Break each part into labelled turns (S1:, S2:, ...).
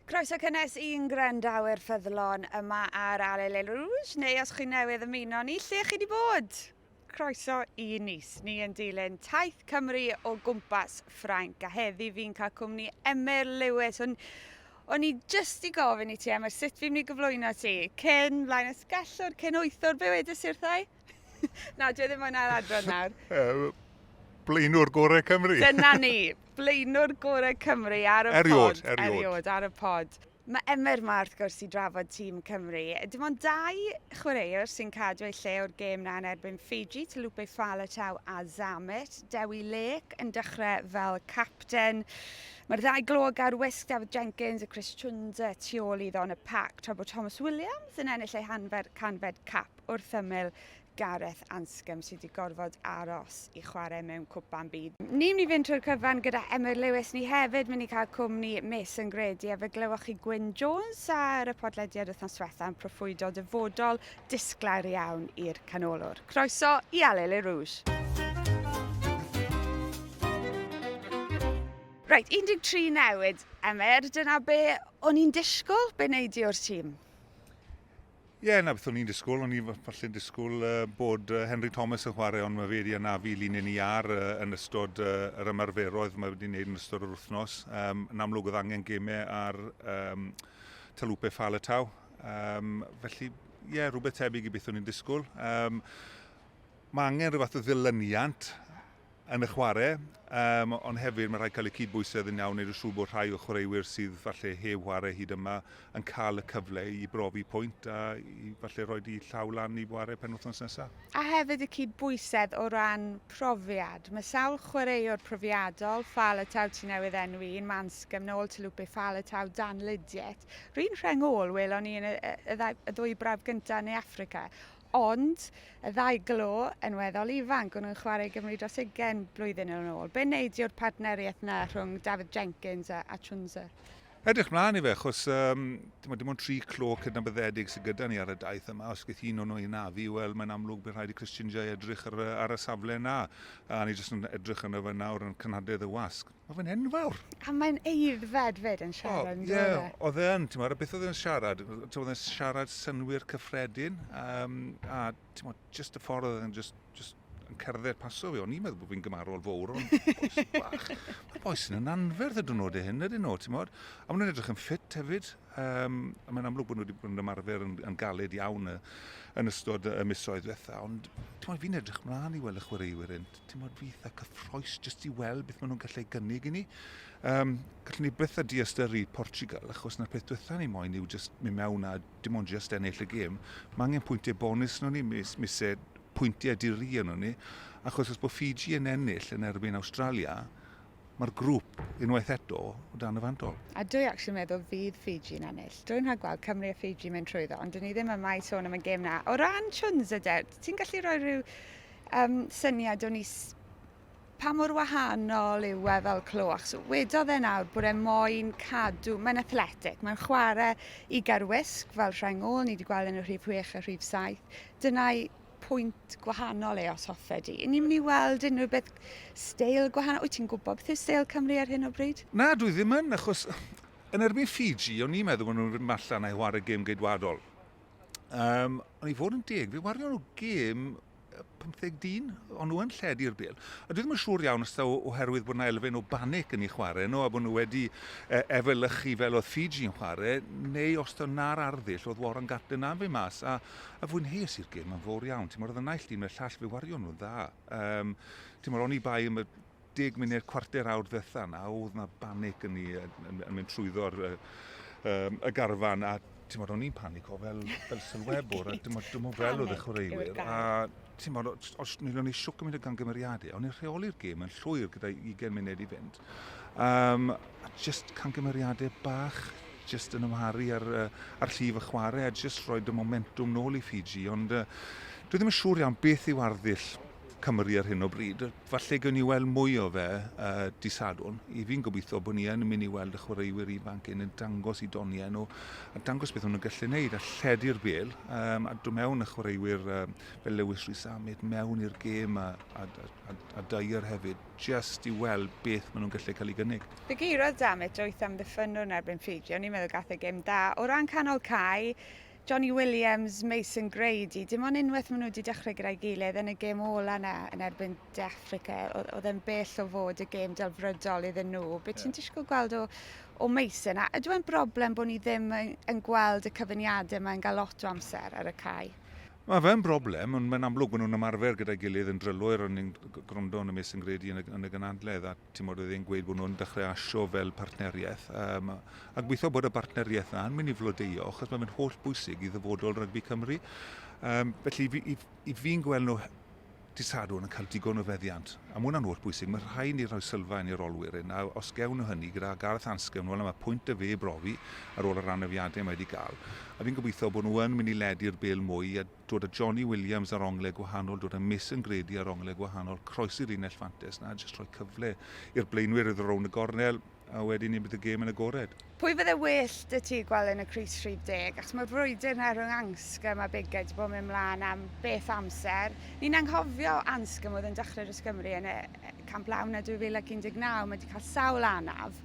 S1: Croeso cynnes i'n gwrandawyr ffyddlon yma ar Alele Rouge, neu os chi'n newydd ymuno ni, lle chi wedi bod? Croeso i Nice. Ni yn dilyn taith Cymru o gwmpas Ffrainc, a heddi fi'n cael cwmni Emyr Lewis. O'n, o'n i jyst i gofyn i ti, Emyr, sut fi'n mynd i gyflwyno ti? Cyn, mlaen ysgellwr, cyn wythwr, be wedys i'r thai? Na, dwi e ddim moyn ail adran nawr. Uh, blaenwr gorau Cymru. Dyna ni, blaenwr gorau Cymru ar y eriod, pod. Eriod, eriod. ar y pod. Mae Emer ma wrth gwrs i drafod tîm Cymru. Dim ond dau chwaraewr sy'n cadw ei lle o'r gêm na yn erbyn Fiji, Talupe Faletau a Zammit. Dewi Lake yn dechrau fel capten. Mae'r ddau glog ar wisg David Jenkins a Chris Chunza tu ôl iddo yn y pac tra bod Thomas Williams yn ennill ei hanfer canfed cap. wrth ymyl Gareth Anscombe sydd wedi gorfod aros i chwarae mewn Cwpan Byd. Ni'n mynd i fynd trwy'r cyfan gyda Emyr Lewis, ni hefyd mynd i cael cwmni Mason Grady a fe glywch chi Gwyn Jones ar y podlediad wythnos diwetha yn proffwydo dyfodol disglair iawn i'r canolwr. Croeso i Allez les Rouges! Reit, 13 newid, Emyr, dyna be o'n i'n disgwyl, be wnei di o'r tîm? Ie, yeah, na beth o'n i'n disgwyl. O'n i'n falle'n disgwyl uh, bod uh, Henry Thomas yn chwarae, ond mae fe wedi anafu linyn i ar uh, yn ystod uh, yr ymarferoedd mae wedi gwneud yn ystod yr wythnos. Um, yn amlwg oedd angen gemau ar um, Talupe Falatau. Um, felly, ie, yeah, rhywbeth tebyg i beth o'n i'n disgwyl. Um, mae angen rhywbeth o ddilyniant yn y chwarae, yym, ond hefyd mae'n rhaid cael y cydbwysedd yn iawn, wneud yn siŵr bod rhai o'r chwaraewyr sydd falle heb ware hyd yma yn cael y cyfle i brofi pwynt a i falle rhoi di llaw lan i ware penwythnos nesaf. A hefyd y cydbwysedd o ran profiad. Mae sawl chwaraewr profiadol, Fal y Taw ti newydd enwi un, Manscombe, nôl Talupe, Fal y Taw, Dan Lydiate. Rwy'n rheng ôl, welon ni yn y, y, y ddwy brawf gyntaf yn Ne Affrica. Ond, y ddau glo, yn weddol ifanc, o'n nhw'n chwarae i Gymru dros ugain blwyddyn yn ôl. Be wnei di o'r partneriaeth 'na rhwng Dafydd Jenkins a Achunza? Edrych mlaen i fe, achos yym, t'mod, dim ond tri clo cydnabyddedig sy gyda ni ar y daith yma. Os geith un o nhw ei nafu, wel, mae'n amlwg bydd rhaid i Christian Jay edrych ar y ar y safle 'na. A ni jyst yn edrych arno fe nawr yn cynhadledd y wasg. Mae fe'n enfawr! A mae'n eiddfed fyd yn siarad yn dweud e? Oedd e yn, ti'n beth oedd e'n siarad? Oedd e'n siarad synwyr cyffredin, um, a ti'n bod, just y ffordd oedd e'n just, just yn cerdded paso fi, o'n i'n meddwl bod fi'n gymarol fawr o'n boes bach. Mae boes yn yn anferth y dwrnod e hyn, ydyn nhw, ti'n bod? A maen nhw'n edrych yn ffit hefyd, um, a mae'n amlwg bod nhw wedi bod yn ymarfer yn, yn galed iawn y, yn ystod y misoedd diwetha, ond ti'n bod, fi'n edrych mlaen i weld y chwaraewyr hyn. dim ond eitha cyffroes jyst i weld beth maen nhw'n gallu ei gynnig i ni. Um, gallwn ni byth a diastyru Portugal, achos na'r peth diwetha ni moyn yw jyst mynd mewn a dim ond jyst ennill y gêm. Mae angen pwyntiau bonus nhw ni, mis, mise pwyntiau diri nhw ni, achos os bod Fiji yn ennill yn erbyn Australia, mae'r grŵp unwaith eto o dan y fandol. A dwi actually meddwl fydd Fiji'n ennill. Dwi'n rhaid gweld Cymru a Fiji mynd trwyddo, ond dyn ni ddim yma i sôn am y gêm na. O ran Chunza de, ti'n gallu rhoi rhyw Yym syniad o'n i s- pa mor wahanol yw e fel clo achos wedodd e nawr bod e moyn cadw, mae'n athletic, mae'n chwarae i garwisg fel rheng ôl, ni wedi gweld yn y rhif 6 a rhif 7. Dyna'i pwynt gwahanol e os hoffe di. Ni'n mynd i weld unrhyw beth steil gwahanol, wyt ti'n gwybod beth yw steil Cymru ar hyn o bryd? Na, dwi ddim yn, achos yn erbyn Fiji, o'n i'n meddwl bod nhw'n mynd allan a chwarae gêm geidwadol. Um, ond i fod yn deg, fi wario nhw gêm 15 dyn, ond nhw'n lled i'r bel. A dwi ddim yn siŵr iawn os o, oherwydd bod yna elfen o banic yn ei chwarae nhw, a bod nhw wedi e, efelychu fel oedd Fiji yn chwarae, neu os da na'r arddull oedd Warren Gatlin na fi mas, a, a fwynheus i'r gêm yn fawr iawn. Ti'n mwyn, oedd y naill dyn y llall fe wario nhw'n dda. Um, ti'n mwyn, o'n i bai am y deg munud, cwarter awr ddiwetha' 'na o'dd 'na banic yn ni yn yn yn mynd trwyddo'r yy yym y garfan a t'mod o'n i'n panico fel fel sylwebwr a t'mod dwi'm yn fel o'dd y chwaraewyr a t'mod o- t- os nid o'n i shwc yn mynd o gamgymeriade o'n i'n rheoli'r gêm yn llwyr gyda ugen munud i fynd. Yym a jyst camgymeriade bach jyst yn ymharu ar yy ar llif y chware a jyst rhoid y momentwm nôl i Fiji ond yy dwi ddim yn siŵr iawn beth yw arddull Cymru ar hyn o bryd. Falle gewn ni weld mwy o fe y dydd Sadwrn. I fi'n gobeithio bod ni yn mynd i weld y chwaraewyr ifanc hyn yn dangos i doniau nhw a dangos beth o'n nhw'n gallu wneud a lledu'r bêl um, a dod mewn y chwaraewyr um, fel Lewis Rhys Amed mewn i'r gêm a, a, a, a Dyer hefyd, just i weld beth maen nhw'n gallu cael ei gynnig. Fe geirodd Damit wyth am ddiffynwr yn erbyn Ffrigio, ni'n meddwl gath e gêm da. O ran canol cae, Jonny Williams, Mason Grady, dim ond unwaith maen nhw wedi dechrau gyda'i gilydd yn y gêm ola yna yn erbyn De Affrica, oedd e'n bell o fod y gêm delfrydol iddyn nhw. Be ti'n disgwyl gweld o, o Mason? A ydw e'n broblem bod ni ddim yn, yn gweld y cyfyniadau yma'n cael lot o amser ar y cae? Mae fe'n broblem, ond mae'n amlwg bod nhw'n ymarfer gyda'i gilydd yn drylwyr, o'n i'n gwrando yn y Mason Grady yn y, yn y gynadledd, a Timod, oedd e'n gweud bod nhw'n dechrau asio fel partneriaeth. Um, a gweithio bod y partneriaeth yna yn mynd i flodeio, achos mae'n mynd holl bwysig i ddyfodol rygbi Cymru. Um, felly, fi, i, i fi'n gweld nhw disadwn yn cael digon o feddiant. A mae hwnna'n holl bwysig. Mae rhai ni rhoi sylfaen i'r olwyr hyn. A os gewn nhw hynny gyda Gareth Ansgewn, wel mae pwynt y fe brofi ar ôl y ranafiadau mae wedi cael. A fi'n gobeithio bod nhw yn mynd i ledi'r bel mwy a dod a Jonny Williams ar ongle gwahanol, dod a Mason Grady ar ongle gwahanol, croesi linell fantes 'na a jyst rhoi cyfle i'r blaenwyr iddo rownd y gornel a wedyn ni bydd y gêm yn agored. Pwy fydde well 'da ti gweld yn y crys rhif deg? Achos mae'r frwydr 'na rhwng Anscombe a Biggar 'di bod yn mynd mlaen am beth o amser. Ni'n anghofio Anscombe oedd yn dechrau dros Gymru yn y Camp Lawn 'na 2019, mae 'di cael sawl anaf.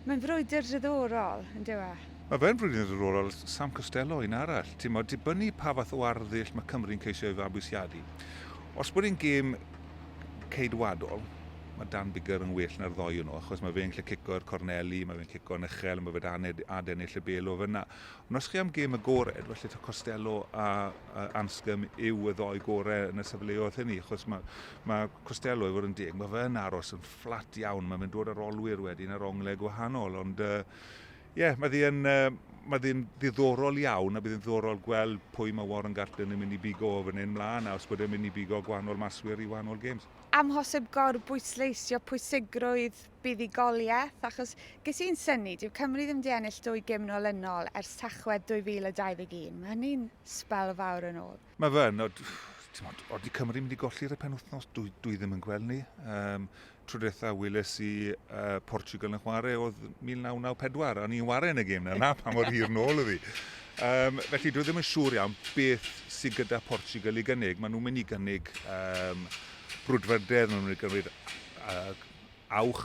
S1: Mae'n frwydr diddorol, yn dyw e? Mae fe'n rili ddiddorol, Sam Costello, un arall. Ti'n modd, dibynnu pa fath o arddull mae Cymru'n ceisio ei fabwysiadu. Os bod e'n gêm ceidwadol, mae Dan Biggar yn well na'r ddoi yno, achos mae fe'n lle cico i'r corneli, mae fe'n cico'n uchel, mae fe dan adennill y bel o fyna. Ond os chi am gêm agored, felly to Costello a, a Anscombe yw y ddoi gore yn y sefleoedd hynny, achos mae, mae Costello, i fod yn deg, mae fe yn aros yn fflat iawn, mae fe'n dod ar olwyr wedyn ar onglau gwahanol, ond uh, Ie, yeah, mae ddi'n mae ddi'n ddiddorol iawn a bydd yn ddiddorol gweld pwy mae Warren Gatland yn mynd i bigo o fan hyn mlaen a os bod e'n mynd i bigo gwahanol maswyr i wahanol games. Amhosib gorbwysleisio pwysigrwydd buddugoliaeth achos ges i'n syni, dyw Cymru ddim wedi ennill dwy gêm nolynol ers Tachwedd 2021. Mae hynny'n sbel fawr yn ôl. Mae fe yn, timod, oeddi Cymru mynd i golli'r y penwthnos, dwi, dwi ddim yn gweld ni. Um, trwydetha wyles i uh, Portugal yn chwarae oedd 1994, a ni'n wario yn y gêm yna, pa mor hir nôl ydi. Um, felly dwi ddim yn siŵr iawn beth sydd gyda Portugal i gynnig. Maen nhw'n mynd i gynnig um, brwdfrydedd, maen nhw'n mynd i gynnig uh, awch,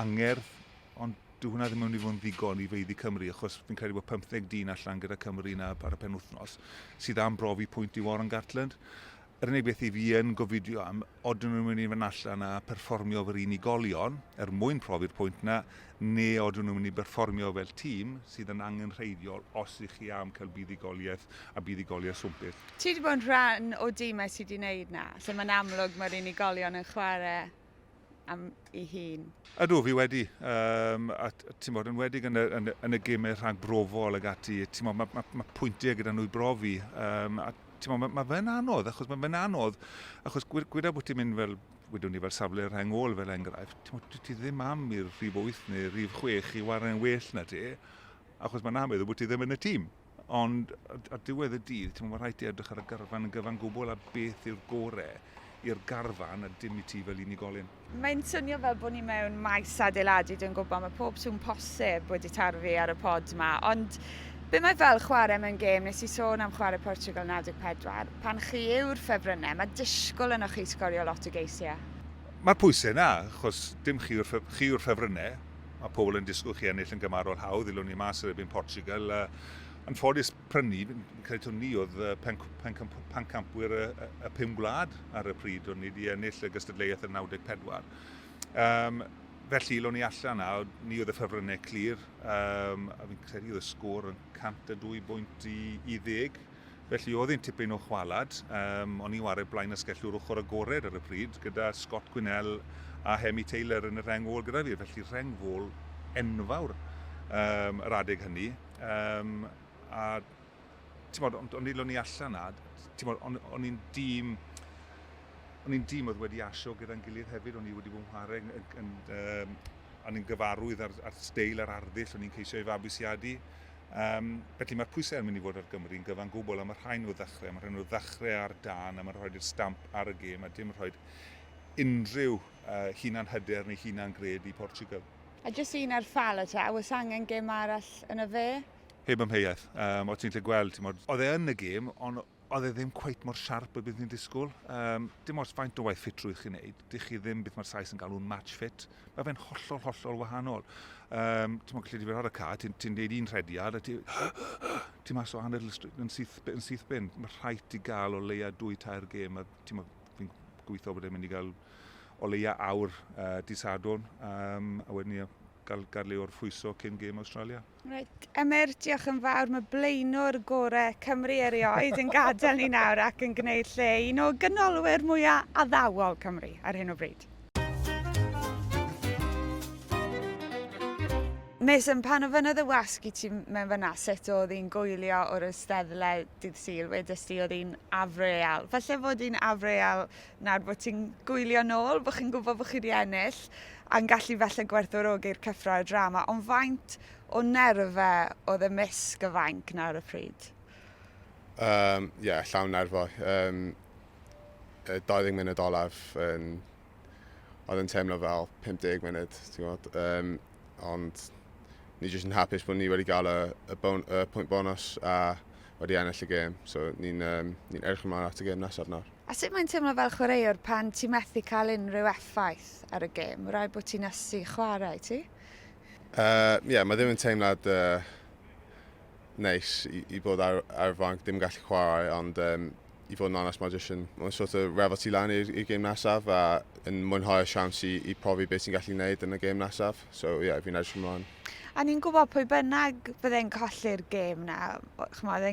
S1: angerdd, ond Dyw hwnna ddim yn mynd i fod yn ddigon i feiddi Cymru, achos fi'n credu bod 15 dyn allan gyda Cymru na ar y penwythnos, sydd am brofi pwynt i Warren Gatland. Yr unig beth i fi yn gofidio am, odyn nhw'n mynd i fynd allan a perfformio fel unigolion, er mwyn profi'r pwynt na, ne odyn nhw'n mynd i berfformio fel tîm, sydd yn angenrheidiol os ych chi am cael buddugoliaeth a buddugoliaeth swmpus. Ti 'di bod yn rhan o dimau sy 'di neud 'na, lle mae'n amlwg mae'r unigolion yn chwarae am ei hun. Ydw, fi wedi, um, a ti'n bod, yn wedi yn y, yn, yn y gymau rhag brofol ag ati, ti'n bod, mae ma, ma pwyntiau gyda nhw i brofi, um, a ti'n bod, mae ma fe'n anodd, achos mae fe'n anodd, achos gweda bod ti'n mynd fel wedwn ni fel safle rheng ôl fel enghraifft, ti'n bod, ti ddim am i'r rhif 8 neu rhif 6 i wario'n well na ti, achos mae'n amlwg bod ti ddim yn y tîm. Ond ar diwedd y dydd, ti'n meddwl, rhaid ti edrych ar y garfan yn gyfan gwbl a beth yw'r gore i'r garfan a dim i ti fel unigolyn. Mae'n swnio fel bod ni mewn maes adeiladu, dwi'n gwybod, mae pob sŵn posib wedi tarfu ar y pod yma, ond be mae fel chwarae mewn gêm, nes i sôn am chwarae Portugal 94, pan chi yw'r ffefrynnau, mae disgwyl yno chi sgorio lot o geisiau. Mae'r pwysau yna, achos dim chi yw'r ffefrynnau. Mae pobl yn disgwyl chi ennill yn gymarol hawdd, ddilwn ni mas yr erbyn Portugal. A, yn ffodus prynu, fi'n credu taw ni oedd pen, pen, pen campwyr y, y pum gwlad ar y pryd, o'n ni wedi ennill y gystadleuaeth yn 94. Um, felly, lo'n ni allan a ni oedd y ffefrynnau clir, um, a fi'n credu oedd y sgôr yn 102 bwynt i, i ddeg. Felly oedd hi'n tipyn o chwalad. Um, o'n i'n wario blaen asgellwr ochr agored ar y pryd, gyda Scott Gwinnell a Hemi Taylor yn y rheng ôl gyda fi. Felly rheng ôl enfawr um, yr adeg hynny. Um, a ti'n ond, ond nid o'n i allan na, ti'n ond o'n i'n dîm o'n i'n dîm oedd wedi asio gyda'n gilydd hefyd, o'n i wedi bod yn chwarae yn, yn, um, o'n i'n gyfarwydd ar, ar steil a'r arddull o'n i'n ceisio ei fabwysiadu. Yym, felly mae'r pwysau yn mynd i fod ar Gymru yn gyfan gwbl am y rhain o ddechrau, am y rhain o ddechrau ar dân, am y rhaid i'r stamp ar y gêm a dim rhaid unrhyw uh, hunan hyder neu hunan gred i Portugal. A jyst un ar Falata, a oes angen gêm arall yn y fe? Heb amheuaeth, um, o ti'n lle gweld, ti'n modd, oedd e yn y gêm, ond oedd e ddim cweit mor siarp y bydd ni'n disgwyl. Um, dim oes faint o waith ffitrwydd chi'n neud, dych chi ddim beth mae'r Sais yn galw'n match fit. Mae fe'n hollol, hollol wahanol. Um, ti'n mwyn gallu difyr ar y ca, ti'n ti neud un rhediad, a ti'n ti mas o hanner yn syth, yn syth bin. Mae rhaid ti gael o leia dwy tair gêm, a ti'n mwyn, fi'n gweithio bod e'n mynd i gael o leia awr uh, disadwn, um, a wedyn ni gael, gael le o'r ffwyso cyn gêm Australia. Reit, Emyr, diolch yn fawr. Mae blaenwr gore Cymru erioed yn gadael ni nawr ac yn gwneud lle i un o ganolwyr mwyaf addawol Cymru ar hyn o bryd. Mason, pan ofynnodd y wasg i ti mewn fanna sut oedd hi'n goelio o'r Eisteddle dydd Sul, wedest ti oedd hi'n afreal. Falle fod hi'n afreal Nawr bod ti'n gwylio nôl, bod chi'n gwybod bod chi wedi ennill, a'n gallu falle gwerthorogi'r cyffro a'r drama, ond faint o nerfe oedd y misg y fainc nawr y pryd? Ie, um, yeah, llawn nerfo. Um, 20 munud olaf yn... Oedd yn teimlo fel 50 munud, ti'n gwybod. Um, ond ni jyst yn hapus bod ni wedi cael y, y, bon, y pwynt bonus a wedi ennill y gêm. So ni'n um, ni erch ymlaen at y gêm nesaf nawr. A sut mae'n teimlo fel chwaraewr pan ti methu cael unrhyw effaith ar y gêm? Rhaid bod ti'n ysu chwarae, ti? Ie, yeah, mae ddim yn teimlad uh, neis i, i bod ar, ar y fanc, dim gallu chwarae, ond um, i fod yn onest, mae jyst yn, mae'n sort of refo ti lan i'r gêm nesaf a yn mwynhau y siawns i, i profi beth ti'n gallu gwneud yn y gêm nesaf. So, ie, yeah, fi'n edrych ymlaen. A ni'n gwybod pwy bynnag fydde'n colli'r gêm na, chymod,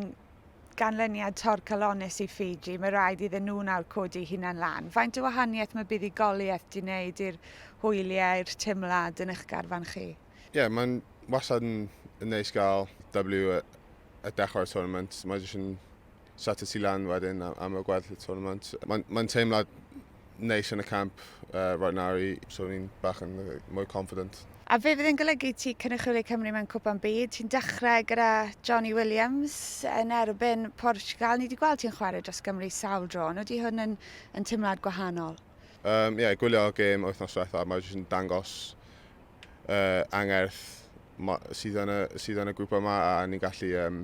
S1: ganlyniad torcalonnus i Fiji, mae rhaid iddyn nhw nawr codi hunan lan. Faint o wahaniaeth mae buddugoliaeth di wneud i'r hwyliau, i'r teimlad yn eich garfan chi? Ie, yeah, mae'n wasad yn, yn neis gael W y, y dechrau'r tournament. Mae jyst yn set y tu lan wedyn am y gweddill y tournament. Mae'n mae teimlad neis yn y camp uh, right now i, so ni'n bach yn mwy confident. A fe fydd yn golygu ti cynrychioli Cymru mewn cwpan byd. Ti'n dechrau gyda Johnny Williams yn erbyn Portugal. Ni wedi gweld ti'n chwarae dros Gymru sawl dro, ond ydy hwn yn, yn teimlad gwahanol? Ie, um, yeah, gwylio gêm wythnos diwetha, mae jyst yn dangos uh, angerth sydd yn, y, sydd yn y grwp yma a ni'n gallu um,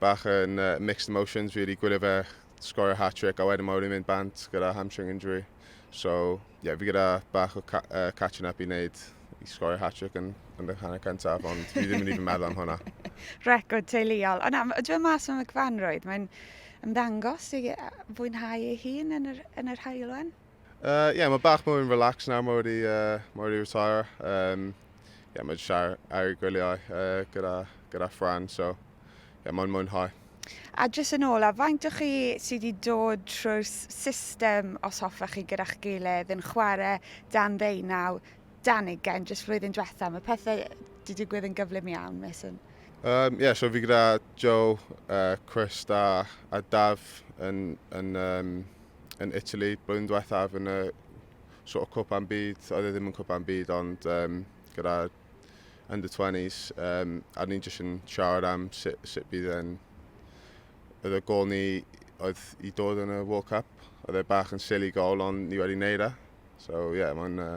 S1: bach yn uh, mixed emotions really, gwylio fe sgorio hat-trick a wedyn mae wedi mynd bant gyda hamstring injury. So, ie, yeah, fi gyda bach o ca uh, catching up i wneud i sgorio hat-trick yn, yn y hanner cyntaf, ond fi ddim yn even meddwl am hwnna. Record teuluol. Ond am, dwi mas o'n fanrwydd, mae'n ymddangos i fwynhau ei hun yn yr, yn yr haelwen. Uh, yeah, mae bach mwy yn relax nawr, mae wedi, uh, mae wedi retire. Um, yeah, mae wedi siar ar y gwyliau uh, gyda, gyda Fran, so yeah, mae'n mwynhau. A jyst yn ôl, a faint o chi sydd wedi dod trwy'r system, os hoffa chi, gyda'ch gilydd yn chwarae dan ddeunaw, dan ugen, jyst flwyddyn diwetha, mae pethau wedi digwydd yn gyflym iawn, mes yn... Um, yeah, so fi gyda Joe, uh, Chris da, a Daf yn, yn um, yn Italy blwyddyn diwethaf yn y sort of cwpan byd, oedd e ddim yn cwpan byd ond um, gyda under 20s um, a ni'n jyst yn siarad am sut, sut bydd yn oedd y gol ni oedd i dod yn y World Cup oedd e bach yn silly gol ond ni wedi neud e so ie yeah, mae'n uh,